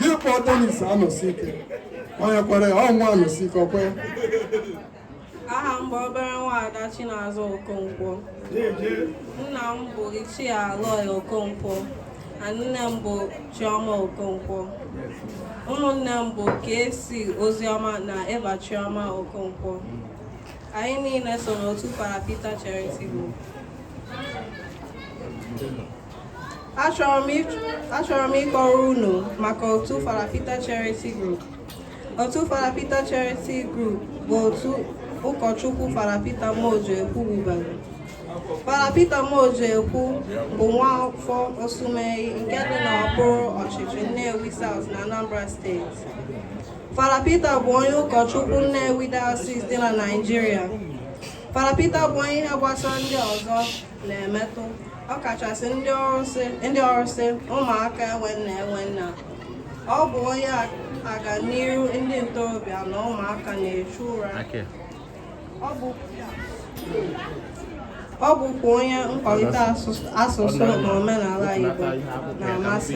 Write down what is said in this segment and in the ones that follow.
gị kpọọ tenis anọsi ike onye kwere ọnwa anọsi ike ọkwe aha m bụ obere nwaada Chinazụ Okonkwo nna m bụ Ichie Aloy Okonkwo na nne m bụ Chioma Okonkwo ụmụnne m bụ Kesi Ozioma na Eva Chioma Okonkwo anyị niile so n'otu Fada Pita Charity Group achọrọ m ịkọrọ unu maka otu Fada Pita Charity Group otu Fada Pita Charity Group bụ otu ụkọchukwu Fada Pita Muojekwu wubere Fada Pita Muojekwu bụ nwa afọ Osumenyi nke dị n'okpuru ọchịchị Nnewi South na Anambra steeti Fada Pita bụ onye ụkọchukwu Nnewi Diocese dị na Naịjirịa Fada Pita bụ onye ihe gbasara ndị ọzọ na-emetụ ọkachasị ndị ọrụsị ụmụaka enwe nne enwe nna ọ bụ onye aganiru ndị ntorobịa na ụmụaka na-echu ụra ọ bụkwa onye nkwalite asụsụ na omenala Igbo na-amasị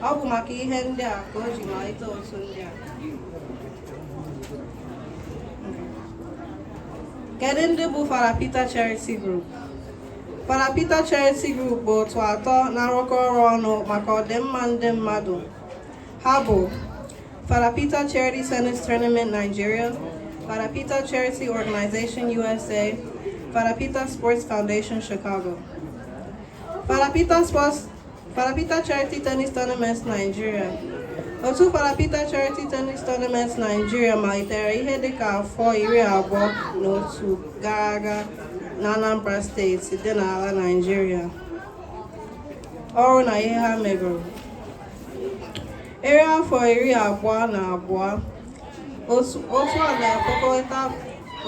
ọ bụ maka ihe ndị a ka o ji malite otu ndị a Kedu ndị bụ Fada Pita Charity Group? Fada Pita Charity Group bụ otu atọ na-arụkọ ọrụ ọnụ maka ọdịmma ndị mmadụ. Ha bụ Fada Pita Charity Tennis Tournament Nigeria, Fada Pita Charity Organization USA, Fada Pita Sports Foundation Chicago. Fada Pita Charity Tennis Tournament Nigeria otu Fada Pita Charity Tennis Tournament Nigeria malitere ihe dịka afọ iri abụọ na otu gara aga na Anambra steeti dị n'ala Nigeria ọrụ na ihe ha megoro eri afọ iri abụọ na abụọ otu a na-akpọkọta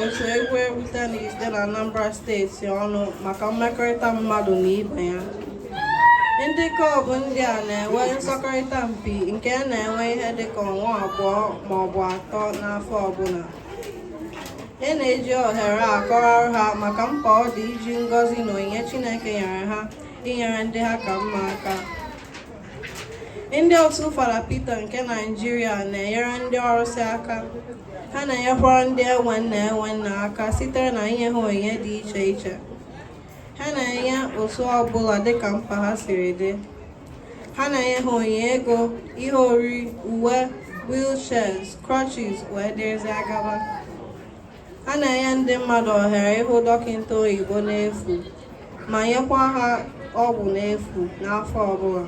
otu egwuregwu tenis dị na Anambra steeti ọnụ maka mmekọrịta mmadụ na ibe ya ndị klọbụ ndị a na-enwe nsọkọrịta mpi nke a na-enwe ihe dịka ọnwa abụọ ma ọ bụ atọ n'afọ ọbụla e na-eji ohere a akọwara ha maka mkpa ọ dị iji ngọzi na onyinye Chineke nyere ha inyere ndị ha ka mma aka ndị otu Fada Pita nke Naịjirịa na-enyere ndị ọrụsị aka ha na-enyekwara ndị enwe nne enwe nna aka site na inye ha onyinye dị iche iche ha na-enye otu ọbụla dịka mkpa ha siri dị ha na-enye ha onyinye ego ihe oriri uwe wheelchairs crutches wee dịrịzịa gaba ha na-enye ndị mmadụ ohere ịhụ dọkịta oyibo n'efu ma nyekwa ha ọgwụ n'efu n'afọ ọbụla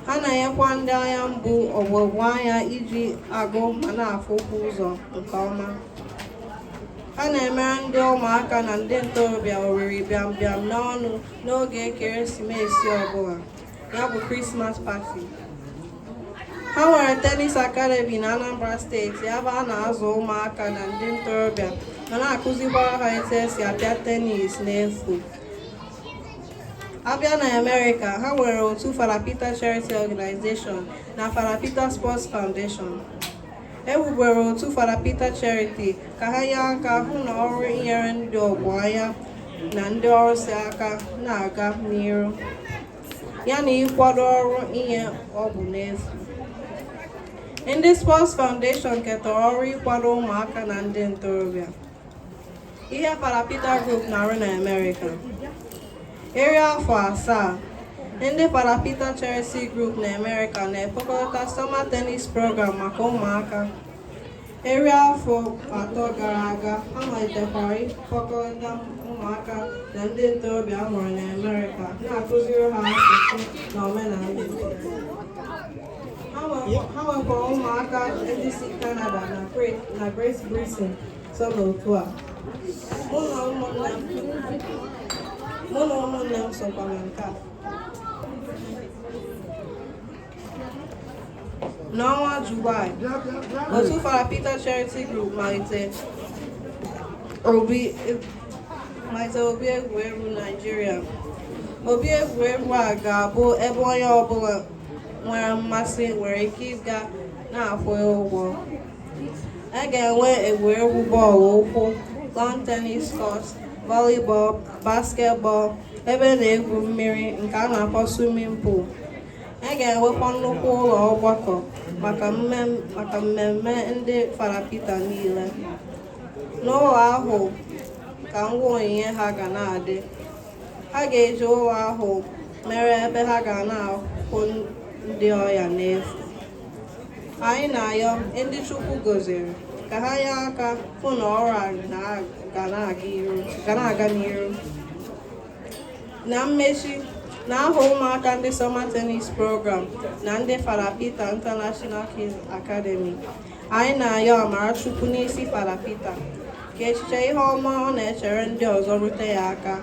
ha na-enyekwa ndị anya mgbu ugogbe anya iji agụ ma na-afụkwu ụzọ nke ọma ha na-emere ndị ụmụaka na ndị ntorobịa oriri bịam bịam n'ọnụ n'oge ekeresimesi ọbụla ya bụ Christmas party ha nwere tenis academy na Anambra steeti ebe a na-azụ ụmụaka na ndị ntorobịa ma na-akụzikwara ha etu esi apịa tenis n'efu abịa na Amerịka ha nwere otu Fada Peter Charity Organization na Fada Peter Sports Foundation ewubere otu Fada Peter Charity ka ha nye aka hụ na ọrụ inyere ndị ogbenye na ndị ọrụsị aka na-aga n'iru ya na ịkwado ọrụ inye ọgwụ n'efu ndị Sports Foundation ketara ọrụ ịkwado ụmụaka na ndị ntorobịa ihe Fada Peter group na-arụ na Amerịka eri afọ asaa ndị Fada Peter charity group na Amerịka na-ekpokọta summer tennis program maka ụmụaka eri afọ atọ gara aga ha malitekwara ịkpọkọta ụmụaka na ndị ntorobịa a mụrụ na Amerịka na-akụziri ha asụsụ na omenala ha nwekwara ụmụaka ndị si Canada na Great Britain so n'otu a mụ na ụmụnne m sokwa na nke a n'ọnwa Julaị otu Fada Peter Charity Group malitere obi egwuregwu Naijiria obi egwuregwu a ga-abụ ebe onye ọbụla nwere mmasị nwere ike ịga na-akwụ ụgwọ a ga-enwe egwuregwu bọọlụ ụkwụ lawn tennis court volleyball basketball ebe na-egwu mmiri nke a na-akpọ swimming pool a ga-enwekwa nnukwu ụlọ ọgbakọ maka mmemme ndị Fada Peter niile n'ụlọ ahụ ka ngwa onyinye ha ga na-adị ha ga-eji ụlọ ahụ mere ebe ha ga na-ahụ ndị ọya n'efu anyị na-ayọ ndị Chukwu gọziri ka ha nye aka hụ na ọrụ a ga na-aga n'iru na mmechi n'aha ụmụaka ndị Summer Tennis Program na ndị Fada Peter International Kids Academy anyị na-ayọ amara chukwu n'isi Fada Pita ka echiche ihe ọma ọ na-echere ndị ọzọ rute ya aka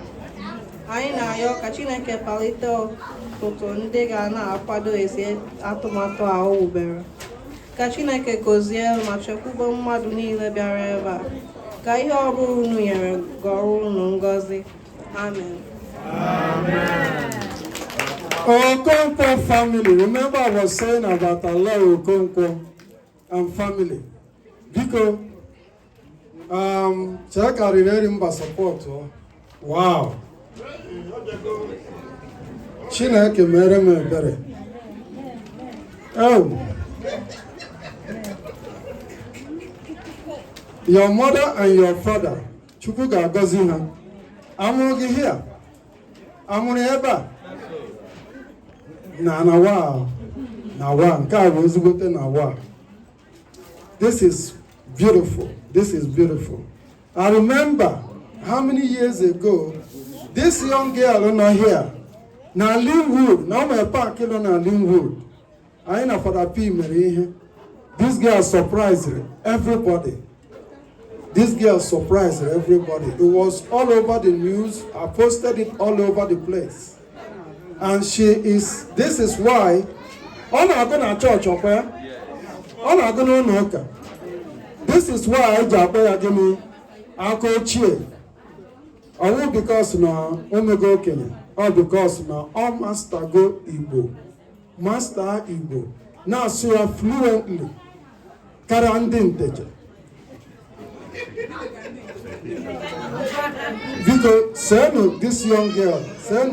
anyị na-ayọ ka Chineke palite ọtụtụ ndị ga na-akwado ezi atụmatụ a o wubere ka Chineke gọzie ma chekwube mmadụ niile bịara ebe a ka ihe ọ bụla unu nyere ghọrọ unu ngọzi amen Okonkwo family. Remember, I was saying about Allah Okonkwo. and family biko um, chee karịrị eri mba support wow chineke mere m ebere ewu your mother and your father chukwu ga-agọzi ha a mụrụ gị here a mụrụ ebe a na na wa na wa nke a bụ ezigbote na wa this is beautiful this is beautiful i remember how many years ago this young girl nọ here na Lynwood n'ime park nọ na Lynwood anyị na Fada P mere ihe this girl surprised everybody this girl surprised everybody it was all over the news I posted it all over the place and she is this is why ọ na-agụ na church ọ kwa ya ọ na-agụ n'ụlọ ụka this is why anyị ji akpọ ya gịnị aka ochie ọ wụ because na o mego okenye ọ because na ọ mastago igbo master Igbo na-asụ ya fluently karịa ndị Nteje biko send this young girl send